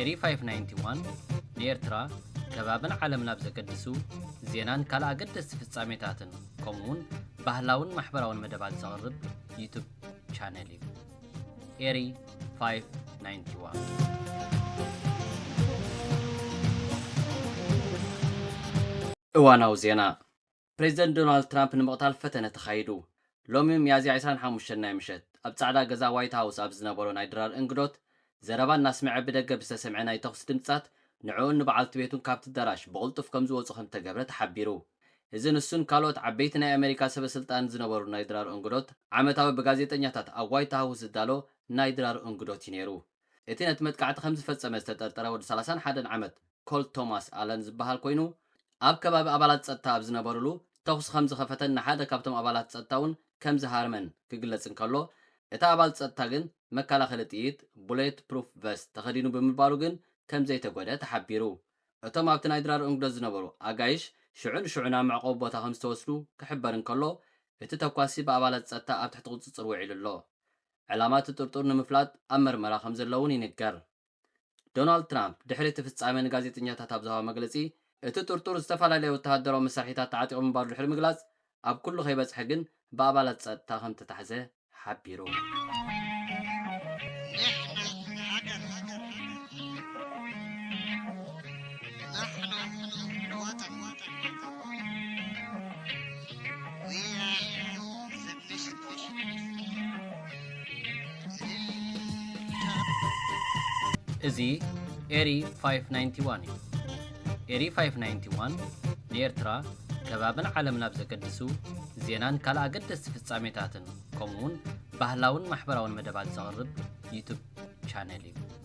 ኤሪ 591፣ ንኤርትራ፣ ከባብን ዓለምን ኣብ ዘገድሱ ዜናን ካልእ ኣገደስቲ ፍጻሜታትን ከምኡ'ውን ባህላውን ማሕበራውን መደባት ዘቕርብ ዩቱብ ቻነል እዩ። ኤሪ 591 ፕሬዚደንት ዶናልድ ትራምፕ ንምቕታል ፈተነ ተኻይዱ። ሎሚ ሚያዝያ ዕስራን ሓሙሽተን ናይ ምሸት፣ ኣብ ጻዕዳ ገዛ ዋይት ሃውስ ኣብ ዝነበሮ ናይ ድራር እንግዶት ዘረባ እናስምዐ ብደገ ብዝተሰምዐ ናይ ተኹሲ ድምጽታት ንዕኡን ንበዓልቲ ቤቱን ካብቲ ኣዳራሽ ብቕልጡፍ ከምዝወጹ ከምዝተገብረ ተሓቢሩ። እዚ ንሱን ካልኦት ዓበይቲ ናይ ኣመሪካ ሰበስልጣንን ዝነበሩ ናይ ድራር እንግዶት ዓመታዊ ብጋዜጠኛታት ኣብ ዋይት ሃውስ ዝዳሎ ናይ ድራር እንግዶት እዩ ነይሩ። እቲ ነቲ መጥቃዕቲ ከም ዝፈጸመ ዝተጠርጠረ ወዲ ሰላሳን ሓደን ዓመት ኮልት ቶማስ ኣለን ዝበሃል ኮይኑ፣ ኣብ ከባቢ ኣባላት ጸጥታ ኣብ ዝነበሩሉ ተዅሲ ከም ዝኸፈተን ንሓደ ካብቶም ኣባላት ጸጥታ'ውን ከም ዝሃረመን ክግለጽ እንከሎ፣ እቲ ኣባል ጸጥታ ግን መከላኸሊ ጥይት፣ ቡሌት ፕሩፍ ቨስት፣ ተኸዲኑ ብምባሩ ግን ከም ዘይተጐድኣ ተሓቢሩ። እቶም ኣብቲ ናይ ድራር እንግዶት ዝነበሩ ኣጋይሽ ሽዑ ንሽዑ ናብ መዕቆቢ ቦታ ከም ዝተወስዱ ክሕበር እንከሎ፣ እቲ ተኳሲ ብኣባላት ጸጥታ ኣብ ትሕቲ ቍጽጽር ውዒሉ ኣሎ። ዕላማ እቲ ጥርጡር ንምፍላጥ ኣብ መርመራ ከምዘሎ'ውን ይንገር። ዶናልድ ትራምፕ ድሕሪ እቲ ፍጻመ ንጋዜጠኛታት ኣብ ዝሃቦ መግለጺ፣ እቲ ጥርጡር ዝተፈላለየ ወተሃደራዊ መሳርሒታት ተዓጢቑ ምንባሩ ድሕሪ ምግላጽ፣ ኣብ ኩሉ ከይበጽሐ ግን ብኣባላት ጸጥታ ከምተታሕዘ ሓቢሩ። እዚ ኤሪ 591 እዩ። ኤሪ 591 ንኤርትራ ከባብን ዓለም ናብ ዘገድሱ ዜናን ካልእ ኣገደስቲ ፍጻሜታትን ከምኡውን ባህላውን ማሕበራውን መደባት ዘቕርብ ዩቱብ ቻነል እዩ።